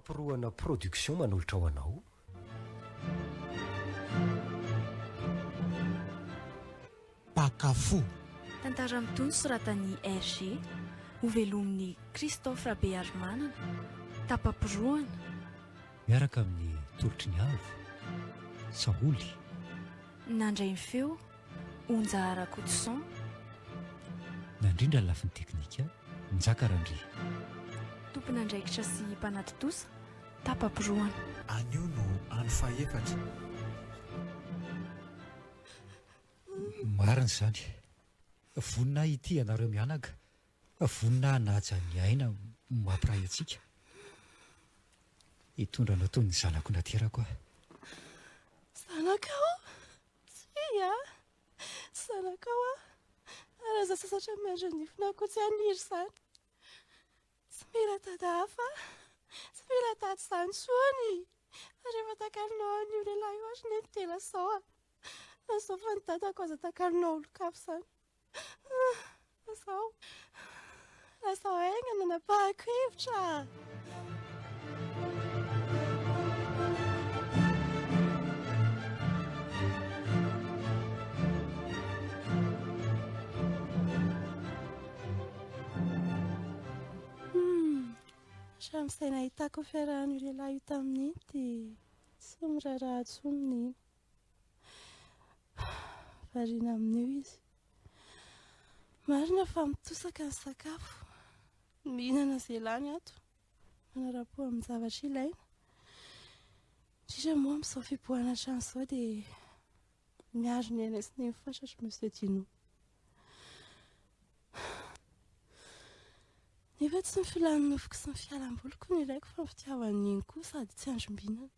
Tapamporohana Production manolotra ho anao. Mpaka fo. Tantara mitohy soratan'i RG. Ho velomin'i Christophe Rabearimanana. Tapamporohana. Miaraka amin'ny tolotry ny avo. Saholy. Nandray ny feo. Onja Rakotoson. Nandrindra ny lafiny teknika, Njaka Randria. Tompon'andraikitra sy mpanatontosa, Tapa-porohana. Anio no andro fahefatra. Marina izany. Vonona hitia ianareo mianaka, vonona hanaja ny aina mampiray antsika. Hitondra anao toy ny zanako naterako aho. Zanakao? Tsia a! Tsy zanakao aho, ary aza sasatra miandry an'ifona akoho tsy haniry izany. Tsy mila dada hafa aho, tsy mila tady izany intsony e! Fa rehefa takalonao an'io lehilahy io ary nety dia lazao a! Fa izao fa ny dadako aza takalonao olon-kafa izany. Izao. Lasa aigna nanapahako hevitra. Hatramin'izay nahitako ny fiarahan'io lehilahy io tamin'ity, tsy miraharaha intsony ny. variana amin'io izy. Marina fa mitosaka ny sakafo, mihinana izay lany ato, manarapo amin'ny zavatra ilaina. Indrindra moa amin'izao fipoahana trano izao dia miaro ny aina sy ny fatratra Monsieur Dino. Nefa tsy ny filan'ny nofoko sy ny fialam-boliko no ilaiko fa ny fitiavan'iny koa sady tsy androm-binana.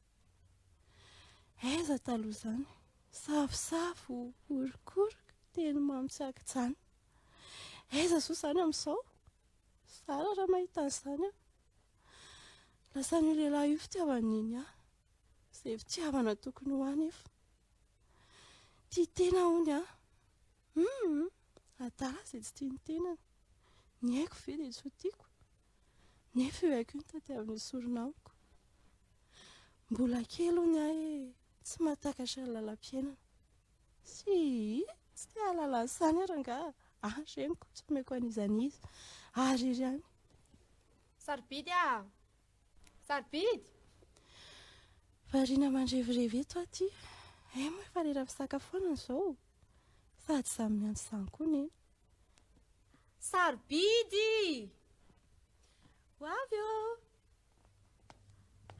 Aiza taloha izany? Safosafo, orokoroka, teny mamy tsy ankijanona. Aiza soa izany amin'izao? Zara raha mahita an'izany aho. Lasan'io lehilahy io fitiavan'i Neny ahy. Izay fitiavana tokony ho ahy nefa. Tia tena hono aho. Hum, adala izay tsy tia ny tenany. Ny aiko ve dia tsy ho tiako? Nefa io haiko io no tadiavin'ny sorona amiko. Mbola kely hono aho e, tsy mahatakatra ny lalam-piainana. Si, tsy te hahalala an'isany aho rangaha. Any ry reniko, tsy omeko an'iza an'iza. Ary iry any. Sarobidy aho. Sarobidy! Variana mandrevirevy eto aho ity. Hay moa efa lera fisakafoanana izao. Fa tsy samy miantso izany koa ny eny. Sarobidy! Ho avy ô!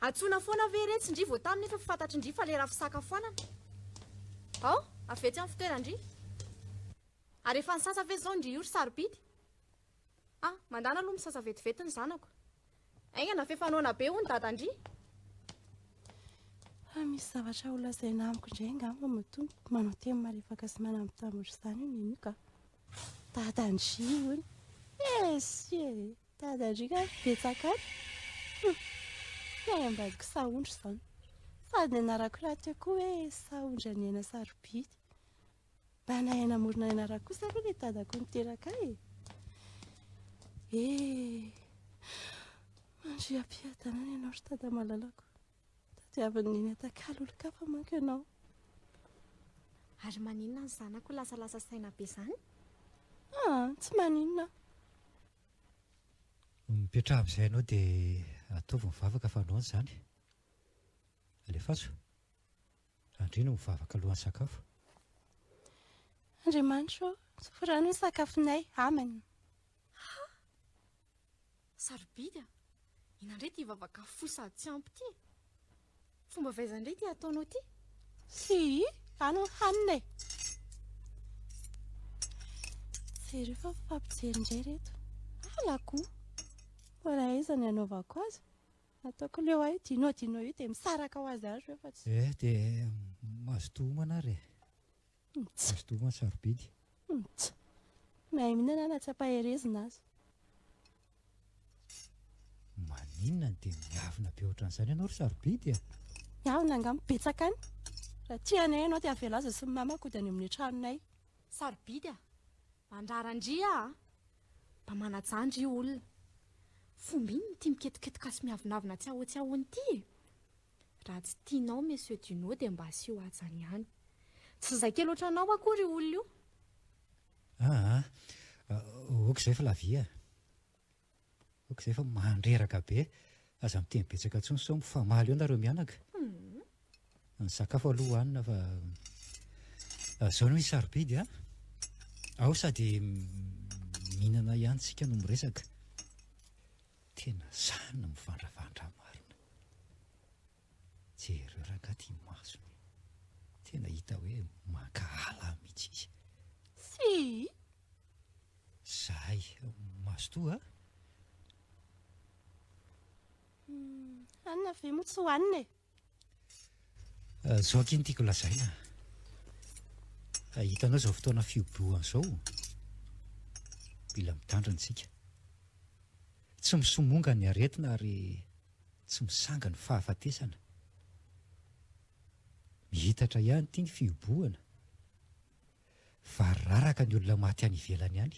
Antsoina foana ve iretsy ndry vao taminy efa fantatry ndry fa lera fisakafoanana. Ao, avy etsy amin'ny fitoeran-dry. Ary efa nisasa ve izao ndry io ry sarobidy? A, mandàna aloha misasa vetivety ny zanako. Aingana, f'efa noana be hono Dadan-dry. Fa misy zavatra ho lazaina amiko indray angamba moa Tompo. Manao teny malefaka sy manambitamby ohatr'izany io Nenio ka. Dadan-dry hono. Esy e! Dadan-dry ka betsaka any. Hum, tsy hay ambadiko sahondry izany. Sady nianarak'irato eo koa hoe sahondry an'i Aina sarobidy. Mba nahay namorona ny anarako kosa aloha ilay dadako niteraka ahy e. Eh, mandria am-piadanana ianao ry dada malalako. Tadiavin'ny neny atakalo olon-kafa manko ianao. Ary maninona ny zanako lasalasa saina be izany? Ah, tsy maninona. Mipetraha amin'izay ianao dia ataovy mivavaka fa anao no izany. Alefaso. Andriana ho vavaka alohan'ny sakafo. Andriamanitra ô, soforano ny sakafonay. Amen. Ha! Sarobidy a! Inona indray ity vavaka fohy sady tsy ampy ity e? Fomba avy aiza indray ity ataonao ity? Fy! Ano ny hanina e! Jereo fa mifampijery indray ireto. Halako! Mbola aiza ny hanaovako azy? Ataoko ny eo ahy, dino dino io dia misaraka ho azy ary eo fa tsy. Eh dia mazotoa homana ary eh. Mazotoa homana sarobidy. Tsa. Mahay mihinana na tsy ampaherezina aza. Maninona no dia miavona be ohatran'izany ianao ry sarobidy eh? Miavona angamba betsaka any. Raha tia anay ianao dia avela azy sy ny mamako hody any amin'ny tranonay. Sarobidy ah. Mandrara ndry ah. Mba manajandry io olona. Fomba inona ity miketoketoka sy miavonavona tsiahotsiahony ity e? Raha tsy tianao Monsieur Duno dia mba asio hajany ihany. Tsy izay kely ohatranao akory io olona io. Aa! ok izay Flavia a! ok izay fa mandreraka be. Aza miteny betsaka intsony sao mifamaly eo nareo mianaka. Ny sakafo aloha hohanina fa zao no izy sarobidy a! Ao sady mihinana ihany tsika no miresaka. Tena sahy ny mivandravandra marina. Jereo rangahy ity masony e! Tena hita hoe mankahala mihitsy izy. Tsia! Zahay mazotoa a! Hanina ve moa tsy hohanina e! Izao akia no tiako lazaina a. Hitanao izao fotoana fihibohana izao, mila mitandrina isika. Tsy misomonga ny aretina ary tsy misanga ny fahafatesana. Mihitatra ihany ity ny fihibohana. fa raraka ny olona maty any ivelany any,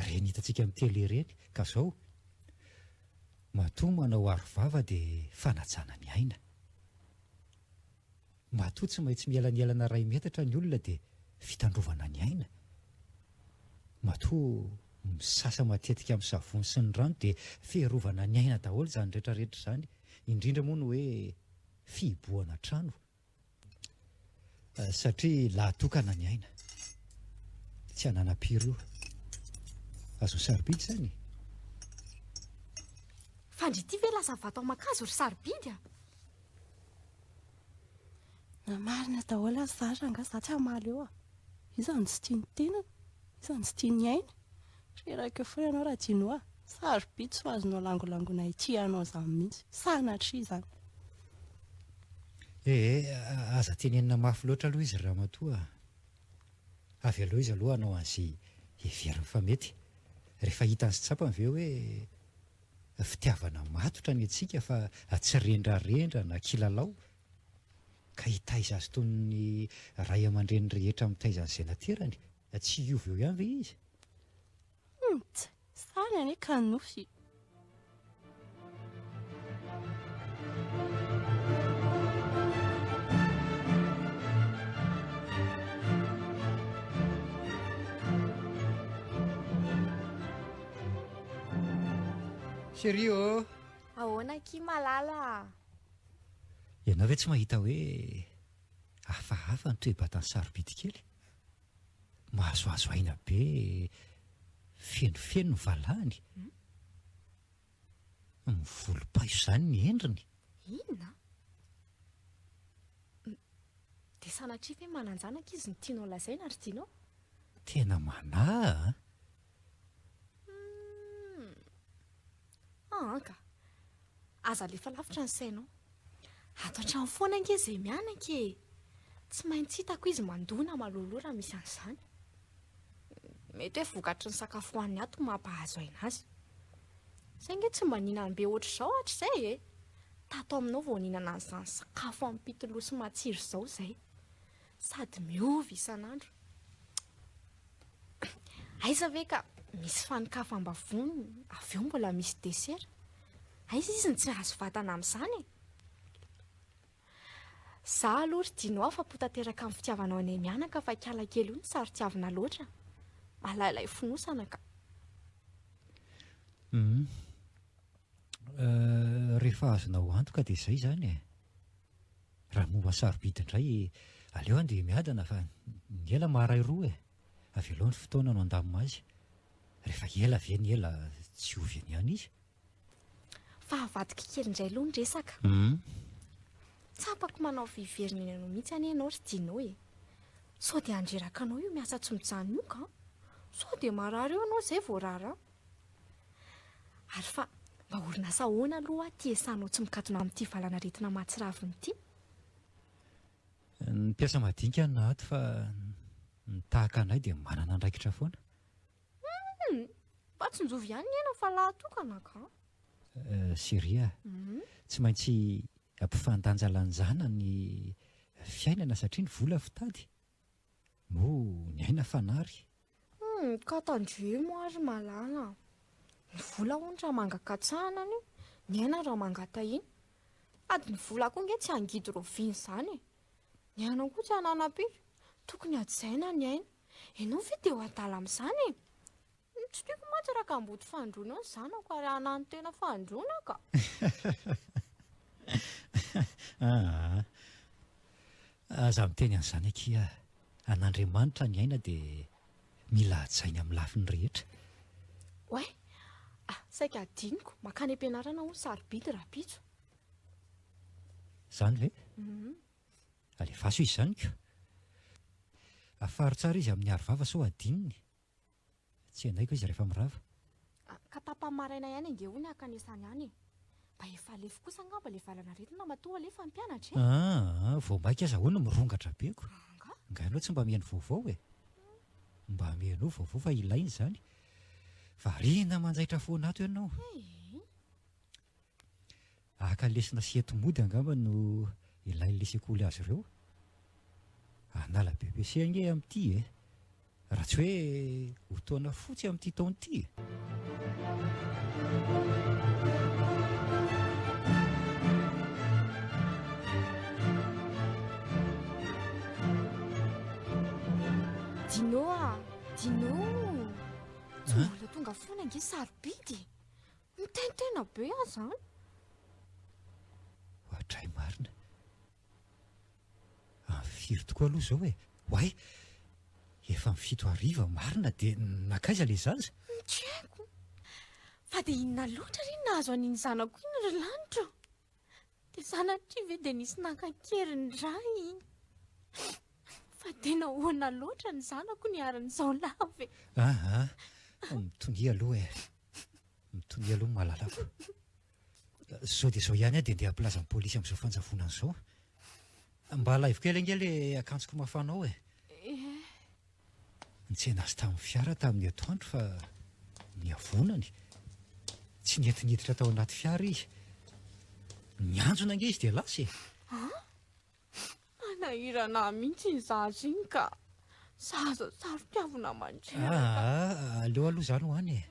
reny hitantsika amin'ny tele ireny, ka zao, matoa manao aro vava dia fanajana ny aina. Matoa tsy maintsy mielanelana iray metatra ny olona dia fitandrovana ny aina. Matoa misasa matetika amin'ny savony sy ny rano dia fiarovana ny aina daholo izany retraretra izany, indrindra moa ny hoe fihibohana trano. Satria lahatokana ny aina. Tsy ananam-piry io. Azon'i sarobidy izany e. Fandry ity ve lasa vato aman-kazo ry sarobidy a? Na marina daholo aza za rangahy za tsy hamaly eo a. Iza no tsy tia ny tenany? Iza no tsy tia ny ainy? Reraka foana ianao Radinoa a! Sarobidy sao azonao langolangoina ity ianao izany mihitsy. Sanatria izany. Ee, aza tenenina mafy loatra aloha izy ry ramatoa a! Avelao izy aloha hanao an'izay heveriny fa mety. Rehefa hitany sy tsapany ve hoe fitiavana matotra ny antsika fa tsy rendrarendra na kilalao? ka hitaiza azy toy ny ray aman-dreny rehetra mitaiza ny zenaterany? Tsy hiova eo ihany ve izy? Humm! Tsy sahy anie ka nofy! Chérie ô! Ahoana akia malala a! Ianao ve tsy mahita hoe hafahafa ny toe-batan'i Sarobidy kely? Mahazoazo aina be, fenofeno ny valahany, mivolom-paiso izany ny endriny. Inona? Dia sanatria ve manan-janaka izy no tianao lazaina ry Dino? Tena manahy an! Humm. An ka. Aza alefa lavitra ny sainao. Ato an-trano foana ange izay mianaka e. Tsy maintsy hitako izy mandoa na maloloha raha misy an'izany. Mety hoe vokatry ny sakafo hohaniny ato no mampahazo aina azy. Izay ange tsy mba nihinany be ohatr'izao hatrizay e. Tato aminao vao nihinana an'izany sakafo ampitoloha sy matsiro izao izay. Sady miova isan'andro. Aiza ve ka misy fanin-kafam-bavony avy eo mbola misy desera? Aiza izy ny tsy hahazo vatana amin'izany e? Za aloha ry Dino afa-po tanteraka amin'ny fitiavanao anay mianaka fa kiala kely io no saro-tiavina loatra. Malailay fonosana ka. Hum, euh, rehefa azonao antoka dia izay izany e. Raha momba sarobidy indray, aleo andeha miadana fa ny ela maharay roa e! Avelao ny fotoana no handamina azy. Rehefa ela ve ny ela tsy ovy eny ihany izy? Fa avadiko kely indray aloha ny resaka. Tsapako manao fiheverana eny anao mihitsy anie ianao ry Dino e! Sao dia handreraka anao io miasa tsy mijanona io ka! Sao dia marary eo ianao izay vao rarana? Ary fa mba orinasa ahoana aloha ity esanao tsy mikatona amin'ity valan'aretina mahatsiravina ity? Ny mpiasa madinika no ato fa ny tahaka anay dia manana andraikitra foana. Hum! Fa tsinjovy ihany ny aina fa lahy tokana ka! Chérie a! Tsy maintsy ampifandanjalanjana ny fiainana satria ny vola fitady Oh, ny aina fanary. Hum, ka tandremo ary malala. Ny vola hono raha manga katsahana anio, ny aina raha manga tahina. Sady ny vola koa nge tsy hangidy rovina izany e. Ny aina koa tsy hananam-pika. Tokony hajaina ny aina. Ianao ve dia ho adala amin'izany e? Ny tsy tiako mantsy raha kamboty fandroana ny zanako ary hanano tena fandroana ka! Aa! Aza miteny an'izany akia ah! An'Andriamanitra ny aina dia mila hajaina amin'ny lafiny rehetra. Oay! Ah! Saika hadinoko, mankany am-pianarana aho ny sarobidy rahampitso. Izany ve? Uhm. Alefaso izy izany ko! Afaro tsara izy amin'ny aro vava sao hadinony. Tsy hendaiko izy rehefa mirava. Ka tapany maraina ihany ange hono hankanesany any e! Mba efa lefy kosa angamba ilay valan'aretina matoa aleha fa mpianatra e! Aa! Vao maika aza hono mirongatra be ko! Angaha ianao tsy mba mihaino vaovao e! Mba mihainoa vaovao fa ilaina izany! Variana manjaitra foana ato ianao! Ee! Haka lesona sy hety mody angamba no ilain'ilay sekoly azy ireo. Hanala BEPC ange amin'ity e! Raha tsy hoe ho taona fotsy amin'ity taona ity e! Dino a! Dino! Tsy mbola tonga foana ange sarobidy e! Miteny tena be aho izany. Ohatray marina. Amin'ny firy tokoa aloha izao e? Oay! Efa amin'ny fito hariva marina dia nankaiza ilay zaza? Tsy haiko. Fa dia inona loatra re no nahazo an'iny zanako iny ry lanitra o? Dia sanatria ve dia nisy nankan-kery ny ray? Fa dia nahoana loatra ny zanako niharan'izao lava e? Aa! Mitonia aloha e! Mitonia aloha ny mahalalako. Izao dia izao ihany aho dia ndeha hampilaza ny polisy amin'izao fanjavonana izao. Mba alaivo kely ange ilay akanjoko mafana ao e. Nitsena azy tamin'ny fiara tamin'ny atoandro fa niavonany. Tsy nety niditra tao anaty fiara izy. Nianjona ange izy dia lasa e. Manahirana ahy mihitsy iny zaza iny ka. Zaza saro-piavina mandreraka. Ah, aleo aloha za no any e.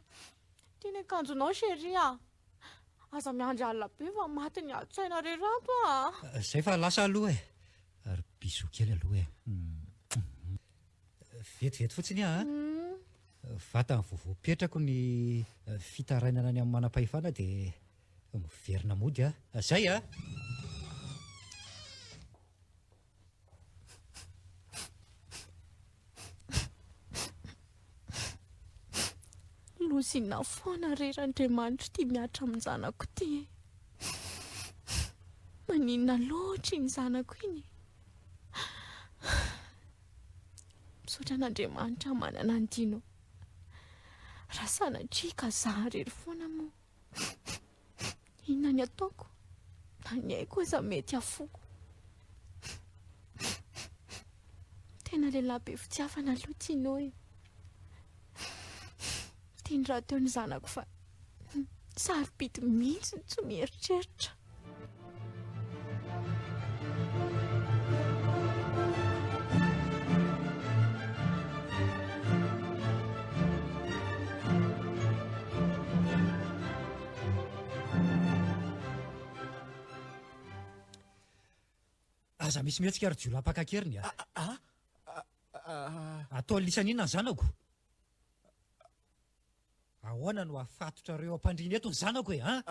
Ity ny akanjonao chérie ah. Aza miandry alina be fa maty ny atsy-tsaina re rato ah. Zay fa lasa aloha e. Ary bisous kely aloha e. Vetivety fotsiny ah. Vatany vao voapetrako ny fitarainana ny amin'ny manam-pahefana dia. Miverina mody a! Zay a! Lozina foana re Randriamanitra ity miatra amin'ny zanako ity e! Maninona loatra iny zanako iny e! Misaotra an'Andriamanitra manana an'i Dino. Raha sanatria ka za irery foana moa. Inona ny ataoko? Na ny aiko aza mety hafoko. Tena lehilahy be fitiavana aloha Tino e. Teny rahateo ny zanako fa sarobidy mihitsy ny tsy mieritreritra. Aza misy mihetsika ry jiolahy mpaka keriny a. Ah, ah, ah, Atao lisany inona ny zanako? Ahoana no afatotrareo ampandriana eto ny zanako e an!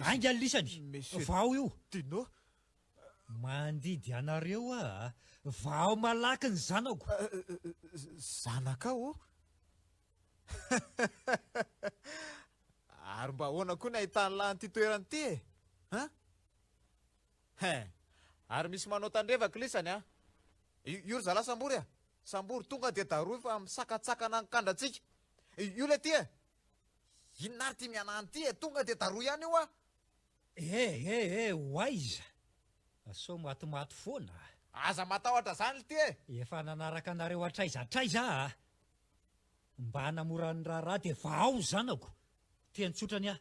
Ainga ny lisany! Vao io! Dino! Mandidy anareo aho a! Vao malaky ny zanako! Zanakao? Ary mba ahoana koa ny ahitany lahy an'ity toerana ity e? An? Hein! Ary misy manao tandrevaka lisany a! Io ry zalahy sambory a! Sambory tonga dia darohy fa misakatsakana ny kandrantsika! Io ilay ty e! Inona ary ty mianany ty e! Tonga dia darohy ihany io a! Eh eh eh! Ho aiza? Sao matimaty foana a! Aza matahotra izany lty e! Efa nanaraka anareo hatraiza hatraiza aho a! Mba hanamora ny raharaha dia vahao ny zanako! Teny tsotra anie aho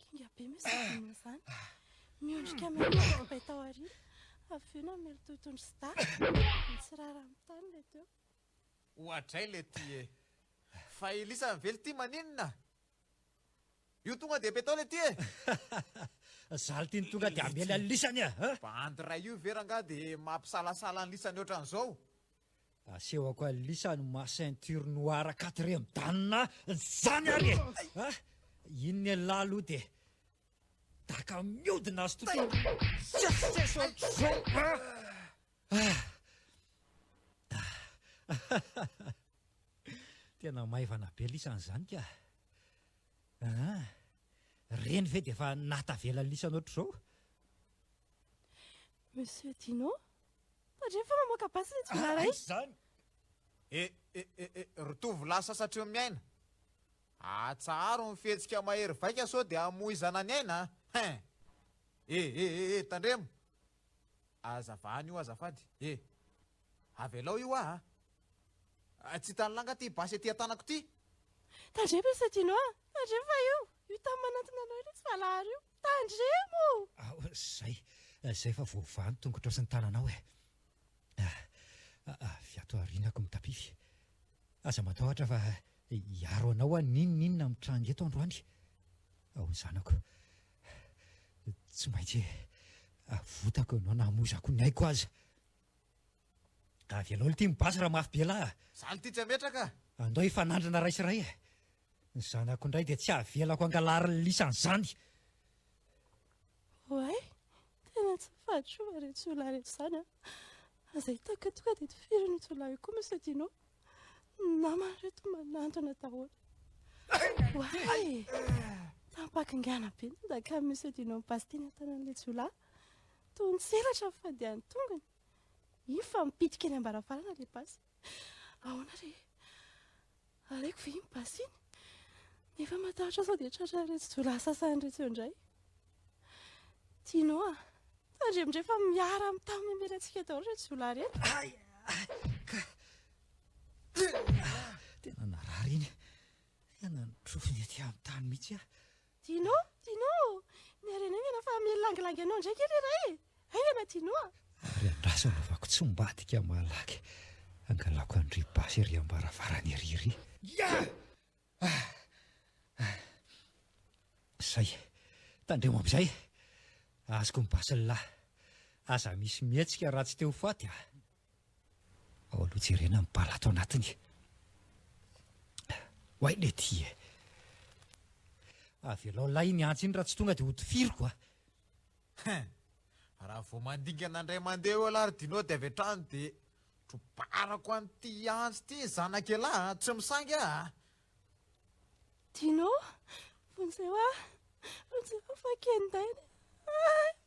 Kinga be moa izany dino izany. Miondrika miaraka bay tao aoriana, avy eo namely tohitondry sy dahy. Nitsirara amin'ny tany ilay teo. Oadray ilay ity e! Fa i Lisa ny vely ity maninona? Io tonga dia be tao ilay ity e! Zala ity no tonga dia hamely an'i Lisa anie a! Bandy iray io ve rangahy dia mampisalasala an'i Lisa ny ohatran'izao? Asehoko alisa ny maha ceinture noire quatrième dan zany ary e! Ah! Iny ny an'lah aloha dia daka miodina azy tontolo tsetsitseso ohatr'izao ah! Tena maivana be lisany izany ka! Aa! Reny ve dia efa naha tavela lisany ohatr'izao? Monsieur Dino? Tandremo fa mamoaka basy ilay jiolahy iray! Aiza izany? E, e, e, e, ry tovo lahy sasatry ny miaina! Atsaharo ny fihetsika mahery vaika sao dia hamoizana ny aina a! Hein! E, e, e, e, tandremo! Aza vahana io azafady e! Avelao io aho a! Tsy hitan'ny langa ity basy ety an-tanako ity! Tandremo Monsieur Dino a! Tandremo fa io, io tany manantona anao io ilay tsy valahara io! Tandremo! Aoh, zay, zay fa voavaha ny tongotrao sy ny tananao eh! Ah, avy ato aoriana ko mitapify. Aza matahotra fa hiaro anao aho n'inon'inona mitranga eto androany. Aoh zanako, tsy maintsy avotako ianao na hamozako ny aiko aza. Avelao ity mibasy raha mafy be lahy ah! Zany ity tsy ametraka ah! Andao hifanandrina ray sy ray eh! Ny zanako indray dia tsy avelako angalarin'ny lisany izany. Oay, tena tsy fahatro va reto jiolahy reto izany an. Aza hitako eto ka dia tifiriny io jiolahy io koa Monsieur Dino. Ny namany reto manantona daholo. Oay, tampakingana be ny daka Monsieur Dino mibasitiny an-tanan'ilay jiolahy. Toa ny selatra ny fandehan'ny tongony. Iny fa mipitika eny am-baravarana ilay basy. Ahoana re? Alaiko ve iny basy iny? Nefa matahotra sao dia tratra an'iretsy jiolahy sasany iretsy eo indray. Tino a! Tandremo indray fa miara mitaha miambela antsika daholo iretsy jiolahy ireto. Ay! Tena narary iny. Ianany trofony ety amin'ny tany mihitsy aho. Dino, Dino, miharena aingana fa milangilangy anao indray kely iray e! Aingana Dino a! Ary andraso anaovako tsy ambadika malaky angalako an-dry Basy ery am-baravarana ery iry. Yah! Ah! Ah! Izay, tandremo amin'izay! Azoko ny Basy lahy! Aza misy mihetsika raha tsy te ho faty a! Ao aloha jerena ny bala ato anatiny. Oay Lety e! Avelao lay iny antsy iny raha tsy tonga dia hotifiriko a! Hein! Raha vao mandingana indray mandeha eo elah ry Dino dia avy hatrany dia trobarako an'ity antsy ity ny zanak'elah a! Tsy misaingy aho a! Dino! Vonjeo aho! Vonjeo aho fa ken-daina e!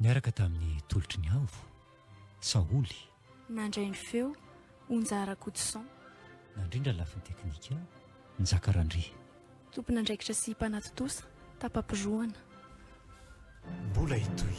Niaraka tamin'ny tolotry ny haavo, Saholy. Nandray ny feo, Onja Rakotoson. Nandrindra ny lafiny teknika, Njaka Randria. Tompon'andraikitra sy mpanatontosa, Tapa-pirohana. Mbola hitohy.